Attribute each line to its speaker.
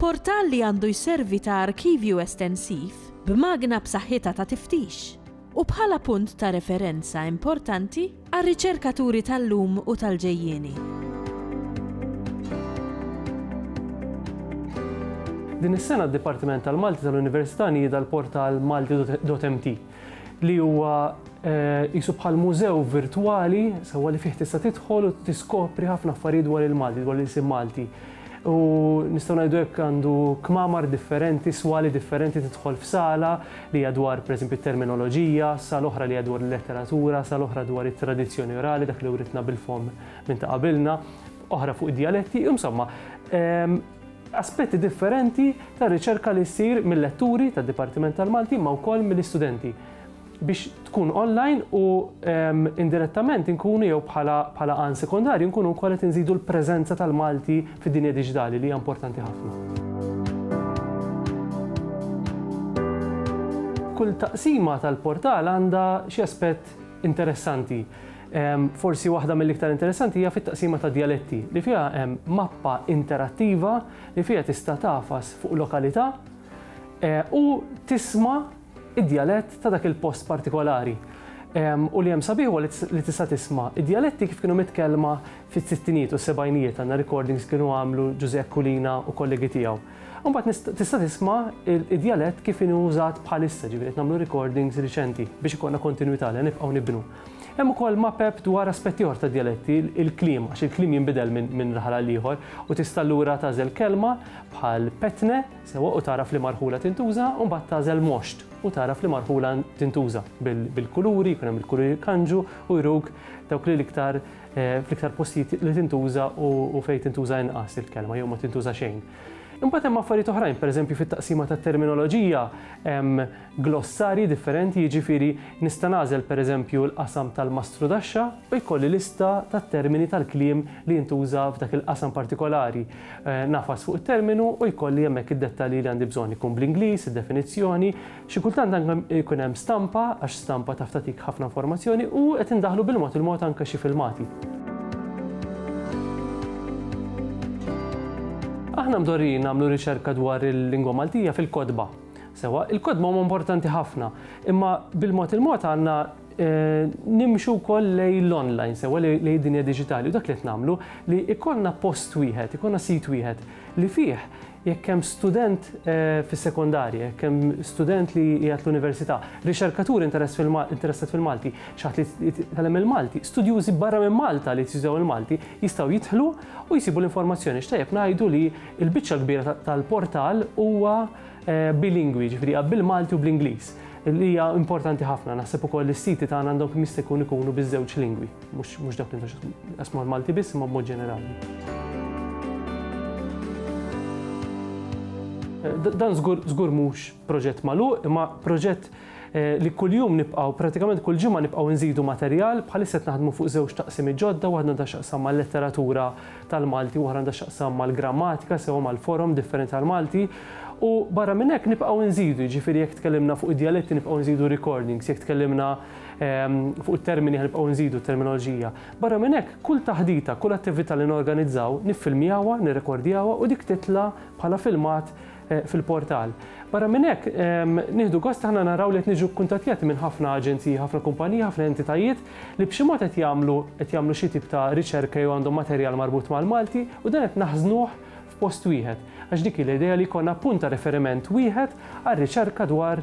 Speaker 1: Portal li għandu jservi ta' arkivju estensiv, b'magna b'saħħitha ta' tiftix, u bħala punt ta' referenza importanti għar-riċerkaturi tal-lum u tal-ġejjieni.
Speaker 2: Din is-sena d-Dipartiment tal-Malti tal-Università nieda l-portal malti.mt li huwa eh, qisu bħal mużew virtwali sewwa li fih tista' tidħol u tiskopri ħafna affarijiet dwar il-Malti, dwar l-insim Malti. U nistgħu ngħidu hekk għandu kmamar differenti, swali differenti tidħol f'sala li hija dwar pereżempju terminoloġija, sal oħra li hija dwar il-letteratura, sal oħra dwar it-tradizzjoni orali dak li writna bil-fom minn ta' qabilna, oħra fuq id-dialetti, insomma, ehm, aspetti differenti tar-riċerka li ssir mil-letturi tad-Dipartiment tal-Malti imma wkoll mill-istudenti biex tkun online u indirettament inkunu jew bħala bħala għan sekondarju nkunu wkoll qed inżidu l-preżenza tal-Malti fid-dinja diġitali li hija importanti ħafna. Kull taqsima tal-portal għandha xi aspett interessanti. Forsi waħda mill-iktar interessanti hija fit-taqsima ta' djaletti, li fiha hemm mappa interattiva li fiha tista' tagħfas fuq lokalità u tisma' id-djalett ta' dak il-post partikolari. U li hemm sabiħ huwa li tista' tisma' id-djaletti kif kienu mitkellma fis-sittinijiet u s-sebgħinijiet, għandna recordings li kienu għamlu Ġużè Aquilina u kollegi tiegħu. Imbagħad tista' tisma' id-djalett kif inhu użat bħalissa, ġifieri qed nagħmlu recordings riċenti biex ikollna kontinwità li nibqgħu nibnu. Hemm ukoll mapep dwar aspett ieħor tad-djaletti, il-kliem, għax il-kliem jinbidel minn raħal għal ieħor, u tista' allura tagħżel kelma bħal petne, sewwa, u tara f'liema rħula tintuża, u mbagħad tagħżel mosht u tara f'liema rħula tintuża. Bil-kuluri, jkun hemm il-kuluri jkanġu u juruk dawk li l-iktar eh, fl-iktar postijiet li tintuża u fejn tintuża inqas il-kelma jew ma tintuża xejn. Imbagħad hemm affarijiet oħrajn, pereżempju fit-taqsima tat-terminoloġija glossarji differenti, jiġifieri nista' nagħżel pereżempju l-qasam tal-mastrudaxxa u jkolli lista tat-termini tal-kliem li jintuża f'dak il-qasam partikolari. Ngħafas fuq it-terminu u jkolli hemmhekk id-dettalji li għandi bżonn, ikun bl-Ingliż, id-definizzjoni, xi kultant anke jkun hemm stampa għax stampa taf tagħtik ħafna informazzjoni u qed indaħħlu bil-mod il-mod anke xi filmati. Aħna mdorrijin nagħmlu riċerka dwar il-lingwa Maltija fil-kotba. Sewwa, il-kotba huma importanti ħafna, imma bil-mod il-mod għandna nimxu wkoll lej l-online, sewwa lej id-dinja diġitali u dak li qed nagħmlu li ikollna post wieħed, ikollna sit wieħed li fih jekk hemm student fis-sekondarja, jekk hemm student li qiegħed l-università, riċerkatur interessat fil-Malti, xi ħadd li jitgħallem il-Malti, studjużi barra minn Malta li jitgħallmu l-Malti jistgħu jidħlu u jsibu l-informazzjoni. X'tajjeb ngħidu li Il-biċċa l-kbira tal-portal huwa bilingwi, jiġifieri hija bil-Malti u bl-Ingliż, li hija importanti ħafna. Naħseb ukoll is-siti tagħna għandhom kemm jista' jkun ikunu biż-żewġ lingwi, mhux dak li qasmu l-Malti biss imma b'mod ġenerali. Dan żgur mhux proġett magħluq, imma proġett li kuljum nibqgħu, prattikament kull ġimgħa nibqgħu nżidu materjal, bħalissa qed naħdmu fuq żewġ taqsimiet ġodda, waħda għandha x'taqsam mal-letteratura tal-Malti u oħra għandha x'taqsam mal-grammatika sewwa mal-forom differenti tal-Malti. U barra minn hekk nibqgħu nżidu, jiġifieri jekk tkellimna fuq id-djaletti nibqgħu nżidu recordings, jekk tkellimna ehm, fuq it-termini nibqgħu nżidu terminoloġija. Barra minn hekk, kull taħdita, kull attività li norganizzaw, niffilmjawha, nirrekordjawha u dik titla' bħala filmat eh, fil-portal. Barra minn hekk, ehm, nieħdu gost aħna naraw li qed niġu kkuntattjati minn ħafna aġenziji, ħafna kumpaniji, ħafna entitajiet li b'xi mod qed jagħmlu qed jagħmlu xi tip ta' riċerka jew għandhom materjal marbut mal-Malti u dan qed naħżnuh f'post wieħed. Għax dik l-idea li jkollna punta referiment wieħed għal riċerka dwar